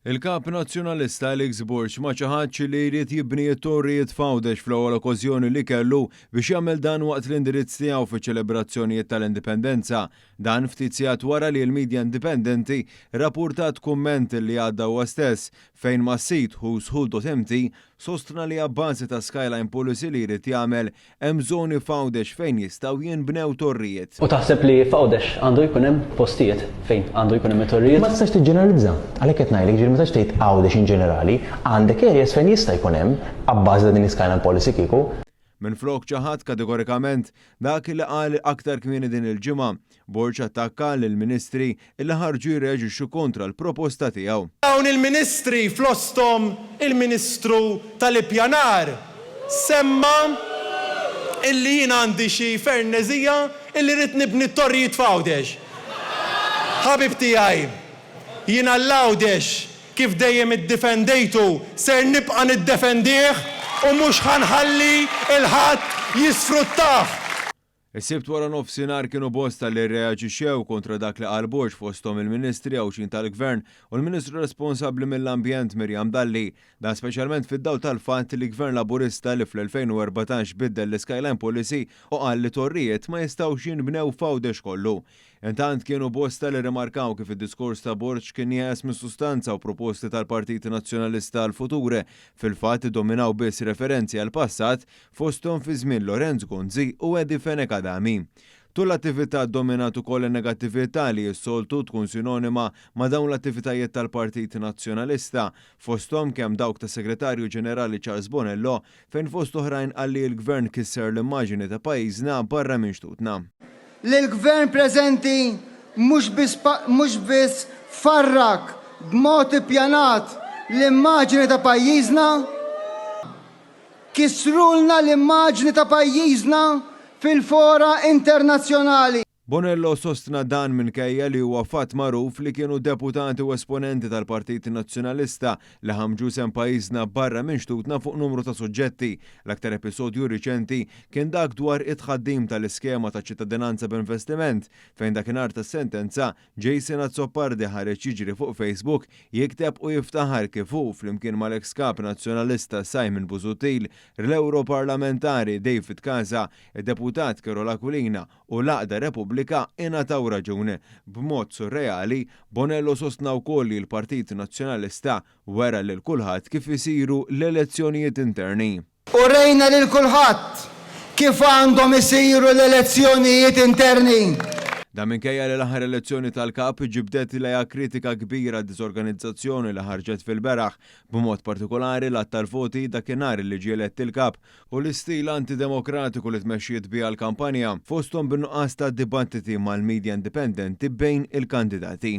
Il-Kap Nazzjonalista Alex Borg ma ċaħadx li jrid jibni t-torrijiet f'Għawdex fl-ewwel okkożjoni li kellu biex jagħmel dan waqt l-indirizz tiegħu fiċ-ċelebrazzjonijiet tal-Indipendenza. Dan ftit sigħat wara li l-midja indipendenti rappurtat kumment li għadda huwa stess fejn mas-sit whoswho.mt sostna li abbażi ta' skyline policy li jrid jagħmel Hemm żoni f'Għawdex fejn jistgħu jinbnew torrijiet? U taħseb li f'Għawdex għandu jkun hemm postijiet fejn għandu jkun hemm it-torrijiet? Ma tistax tiġġeneralizza. Għalhekk qed ngħidlek, jiġifieri ma tistax tgħid Għawdex in ġenerali. Għandek areas fejn jista' jkun hemm, abbażi ta' din l-iskyline policy kieku. Minflok ċaħadt kategorikament dak li qal aktar kmieni din il-ġimgħa, Borg attakka lill-Ministri li ħarġu jirreaġixxu kontra l-proposta tiegħu. Dawn il-Ministri fl-osthom il-Ministru tal-Ippjanar semma illi jien għandi xi ferneżija illi rrid nibni t-torrijiet f'Għawdex. Ħabib tiegħi, jien għal Għawdex kif dejjem iddifendejtu ser nibqa' niddefendih u mhux ħa nħalli 'l ħadd jisfruttah. Is-Sibt waranofsinhar kienu bosta li rreaġixxew kontra dak li qal Borg fosthom il-Ministri Għawdxin tal-Gvern u l-Ministru responsabbli mill-Ambjent Miriam Dalli. Dan speċjalment fid-dawl tal-fatt li Gvern Laburista li fl-2014 biddel l-Skyline Policy u qal li torrijiet ma jistgħux jinbnew f'Għawdex kollu. Intant kienu bosta li rrimarkaw kif id-diskors ta' Borg kien jeqes mis-sustanza u proposti tal-Partit Nazzjonalista għall-futur fil-fatt iddominaw biss referenzi għall-passat fosthom fi żmien Lorenz Gonzi u Eddie Fenech Adami. Tul l-attività ddominat ukoll in-negattività li s-soltu tkun sinonima ma' dawn l-attivitajiet tal-Partit Nazzjonalista, fosthom kemm dawk tas-Segretarju Ġenerali Charles Bonello, fejn fost oħrajn qal li l-Gvern kisser l-immaġini ta' pajjiżna barra minn xtutna. Li l-Gvern preżenti mhux biss farrak b'mod ippjanat l-immaġini ta' pajjiżna, Kissrulna l-immaġni ta' pajjiżna fil-fora internazzjonali. Bonello sostna dan minkejja li huwa fatt magħruf li kienu deputati u esponenti tal-Partit Nazzjonalista li ħammġu isem pajjiżna barra minn xtutna fuq numru ta' suġġetti. L-aktar episodju riċenti kien dak dwar it-tħaddim tal-iskema ta' ċittadinanza b'investiment fejn dakinhar tas-sentenza Jason Azzopardi ħareġ jiġri fuq Facebook jikteb u jiftaħar kif hu flimkien mal-eks Kap Nazzjonalista Simon Busuttil, rl-Ewroparlamentari David Casa, id-Deputat Carol Aquilina u l-Għaqda Repubblika ingħataw raġun. B'mod surreali, Bonello sostna wkoll li l-Partit Nazzjonalista wera lil kulħadd kif isiru l-elezzjonijiet interni. Urejna lil kulħadd kif għandhom isiru l-elezzjonijiet interni. Dan minkejja li l-aħħar elezzjoni tal-Kap ġibdet lejha kritika kbira d-diżorganizzazzjoni li ħarġet fil-beraħ, b'mod partikulari l-għadd tal-voti dakinhar li ġie elett il-Kap, u l-istil anti-demokratiku li tmexxiet biha l-kampanja, fosthom bin-nuqqas ta' dibattiti mal-midja indipendenti bejn il-kandidati.